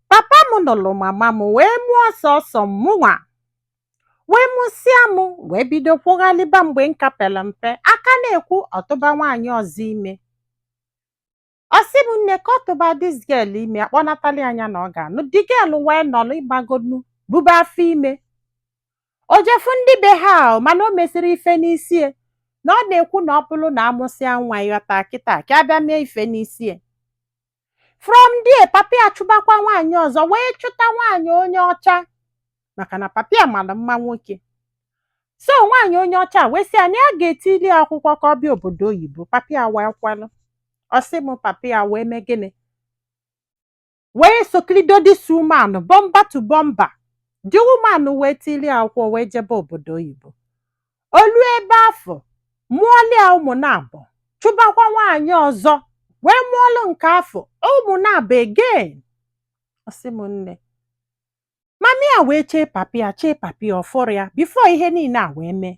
papa m nụlụ mama m wee mụọ ọsọ ọsọ mụnwa wee mụsịa m wee bido kwụghalịba mgbe m ka pelụ mpe a ka na-ekwu ọ tụba nwaanyị ọzọ ime ọ sị m nne ka ọ tụba this girl ime a kpọnatali ya nya na ọ ga-anụ the girl wee nọlụ ịmagonu bube afọ ime o jee fụ ndị be ha ahụ mana o mesịrọ ife n'isi ya na ọ na-ekwu na ọ bụrụ na a mụsịa nwa ịghọta kịta ka a bịa mee ife n'isi ya from there papa ya chụbakwa nwaanyị ọzọ wee chụta nwaanyị onye ọcha maka na papa ya mara mma nwoke so nwaanyị onye ọcha wee sị ya na ya ga-etili ya akwụkwọ ka ọ bịa obodo oyibo papa ya wee kwelụ ọ sị m papa ya wee mee gịnị wee sokilido this woman bumper to bumper the woman wee tili ya akwụkwọ wee jebe obodo oyibo o luo ebe afụ mụọlụ ya ụmụ naabọ chụbakwa nwaanyị ọzọ wee mụọlụ nke afụ ụmụ naabọ again ọ sị m nne mama ya wee chee papa ya chee papa ya ọ fụrọ ya before ihe niile a wee mee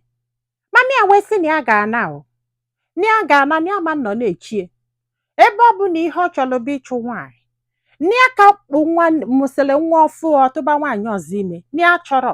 mama ya wee sị na ya ga-ana o na ya ga-ana na ya ama nọ na-eche ya ebe ọ bụ na ihe ọ chọrọ bụ ịchụ nwaanyị na ya ka kpụ nwa mụsịrị nwa ọfụụ ọ tụba nwaanyị ọzọ ime na ya chọrọ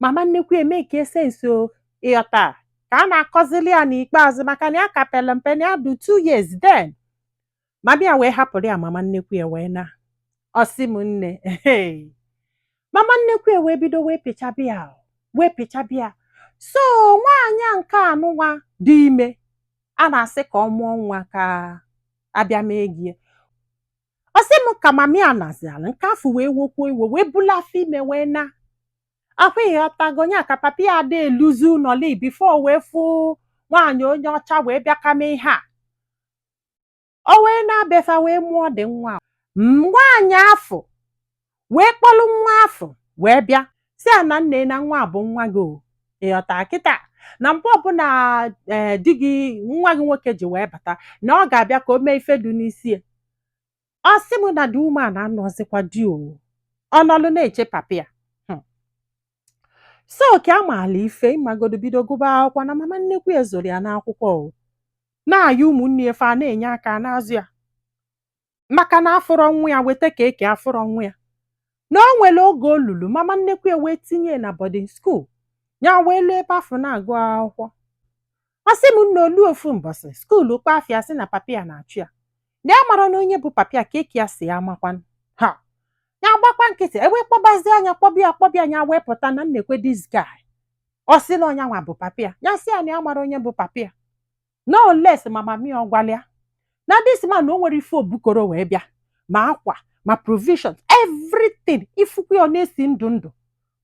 mama nnekwu ya mee ka esensi o ịghọta a, ka a na-akọzili ya n'ikpeazụ maka na ya ka pere mpe na ya dị two years then mama ya wee hapụrụ ya mama nnekwu ya wee naa ọ sị m nne hey. mama nnekwu ya wee bido wee pịchaba ya o, wee pịchaba ya so nwaanyị a nke a nụ nwa dị ime a na-asị ka ọ mụọ nwa ka a bịa mee ego ya. ọ sị m ka mama ya naziala nke afụ wee wokwuo iwe wee bulu afọ ime wee naa ahụ ịghọtago nya ka papa ya ada eluzi ụnọ li before wee fụ nwaanyị onye ọcha wee bịa kama ihe a o wee naa be fa wee mụọ the nwa a. nwaanyị afụ wee kpọlụ nwa afụ wee bịa sị ya na nne na nwa a bụ nwa gị o ịghọta kịta na mgbe ọbụla ee di gị nwa gị nwoke ji wee bata na ọ ga-abịa ka o mee ife dị n'isi ya ọ sị m na the woman anụọzikwa di o ọ nọlụ na-eche papa ya Hmm. so ka ya maala ife ịmagodu bido gụba akwụkwọ na mama nnekwu ya azụrọ ya n'akwụkwọ o na-ayị ụmụnne ya fa na-enye aka na-azụ ya maka na afụrọ nwa ya weta ka eke afụrọ nwa ya na o nwere oge o lulu mama nnekwu ya wee tinye ya na boarding school ya wee luo ebe afụ na-agụ akwụkwọ ọ sị m na o luo ofu mbọsị school kpọọ afa ya sị na papa ya na-achọ ya na ya mara na onye bụ papa ya ka eke ya sị ya amakwanụ ha ya gbakwa nkịtị e wee kpọbazie ya kpọba ya kpọba ya nya wee pụta na nekwe this guy ọ sị na ọ nyanwa bụ papa ya ya sị ya na ya amarọ onye bụ papa ya unless ma mami ya ọ gwala ya na this man na o nwere ife o bukọrọ wee bịa ma akwa ma provisions everything ị fụkwu ya ọ na-esi ndụ ndụ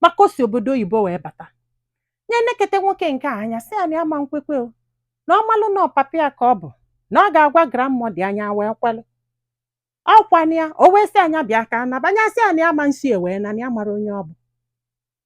maka o si obodo oyibo wee bata nya nekete nwoke nke a anya sị ya na ya ama nkwekwe o na ọ malụ na ọ papi ya ka ọ bụ na ọ ga-agwa grandmother ya nya wee kwelụ ọkwana ya o wee sị ya nya bịa ka a naba nya sị ya na ya ama nsi ewee na ya mara onye ọ bụ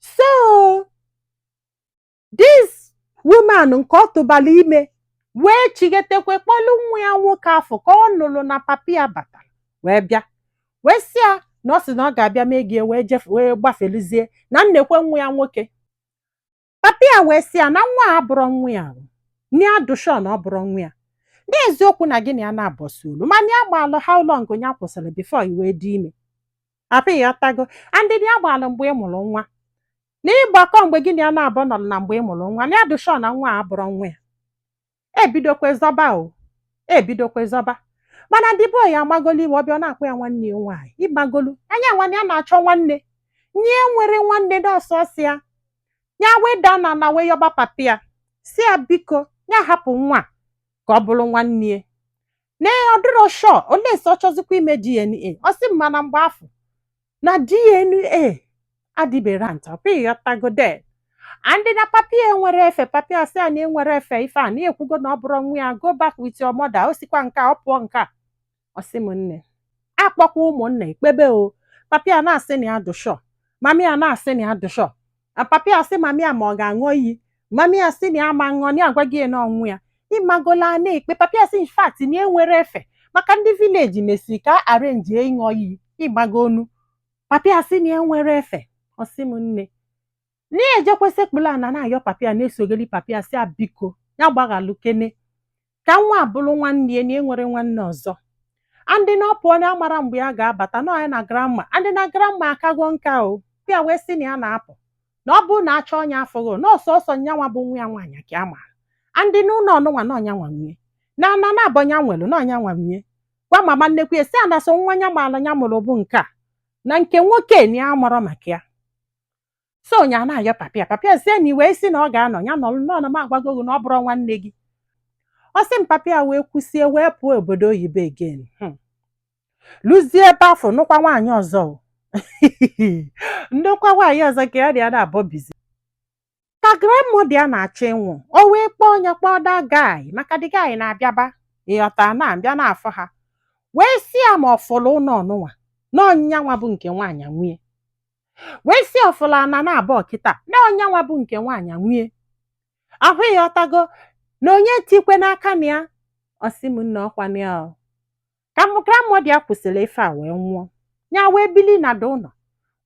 so this woman nke ọ tụbara ime wee chighetekwe kpọlụ nwa ya nwoke afụ ka ọ nụrụ na papi ya batara wee bịa wee sị ya na ọ sị na ọ ga-abịa mee gị wee jefe wee gbafeluzie na nekwe nwa ya nwoke Papi ya wee sị ya na nwa a abụrọ nwa ya o, na ya dị sure na ọ bụrọ nwa ya. N'eziokwu na gị na ya naabọ sị olu, ma na ya gbaalụ how long ya kwụsịrị before i wee dị ime. Abi ị ghọtago, and na ya gbaalụ mgbe ị mụrụ nwa. Na ị gbakọọ mgbe gị na ya naabọ nọrọ na mgbe ị mụrụ nwa, na ya dị sure na nwa a abụrọ nwa ya. e bidokwe zọba o e bidokwe zọba mana the boy amagolu ife ọ bịa ọ na-akpọ ya nwanne ya nwaanyị ị magolu nya nwaanyị a na-achọ nwanne nya enwerọ nwanne na ọ sọsọ ya ya wee daa n'ana wee yọba papi ya sị ya biko nya hapụ nwa a ka ọ bụrụ nwanne ya na ọ dịrọ sure unless ọ chọzikwa ime DNA ọ sị m mana mgbe afụ na DNA adịberọ nta ọkwa ị ghọtago then and na papi ya enwerọ efe papi ya sị ya na ya enwerọ efe ife a na ya ekwugo na ọ bụrọ nwa ya go back with your mother o sikwa nke a, ọ pụọ nke a ọ sị m nne a kpọkwa ụmụnna e kpebe o papi ya na-asị na ya dị sure mami ya na-asị na ya dị sure na papi ya sị mami ya ma ọ ga-aṅụ iyi mami ya sị na ya ama aṅụ na ya agwago ya na ọ nwa ya ị magolu a na-ekpe papi ya sị in fact na ya enwerọ efe maka ndị village na-asị ka arrange ịṅụ iyi ị magonu papi ya sị na ya enwerọ efe ọ sị m nne na ya ejekwe sekpulu ana na-ayọ papi ya na-esogeli papi ya sị ya biko ya gbaghalụ kene ka nwa a bụrụ nwanne ya na ya enwerọ nwanne ọzọ and na ọ pụọ na ya amarọ mgbe ya ga-abata na ọ nya na grandma and na grandma akago nka o ya wee sị na ya na-apụ na ọ bụrụ na a chọọ nya a fụghị na ọ sọsọ nya nwa bụ nwa ya nwaanyị ka ya maara and na ụlọ ọnụnwa na ọ nya nwa nwe ya na ana naabọ nya nwere na ọ nya nwa nwe ya gwa mama nnekwu ya sị ya na sọ nwa nya maara nya mụrụ bụ nke a na nke nwoke na ya amarọ maka ya so nya na-ayọ papi ya papi ya sị ya na i wee sị na ọ ga-anọ ya nọlụ nọ na m agwago gị na ọ bụrọ nwanne gị ọ sị m papi ya wee kwusie wee pụọ obodo oyibo again Hmm. luzie ebe afụ nụkwa nwaanyị ọzọ o. ndokwa nwaanyị ọzọ ka ya na ya naabọ bizi ka grandmother ya na-achọ ịnwụ o wee kpọọ onye kpọọ that guy maka the guy na-abịaba ị ghọta na-abịa na-afụ ha wee sị ya ma ọ fụlụ ụlọ ọnụnwa na ọ nya nwa bụ nke nwaanyị nwe ya wee sị ọ fụla ana naabọ kịta na onye nwa bụ nke nwaanyị nwe ya ahụ ị ghọtago na onye etikwena aka na ya ọ sị m nna ọkwa na ya ọ. ka grandmother ya kwusịrị ife a wee nwụọ ya wee bili na do ụlọ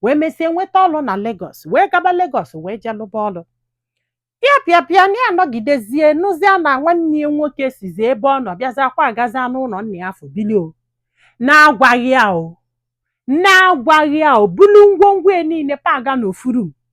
wee mesie nweta ọlụ na Lagos wee gaba Lagos wee jee lụba ọlụ pịa pịa pịa na ya anọgidezie nụzia na nwanne ya nwoke sizi ebe ọ nọ bịazia kwagazia n'ụlọ nna ya afụ bili o na-agwaghị ya o na-agwaghị ya o bulu ngwongwo ya niile paga n'ofu room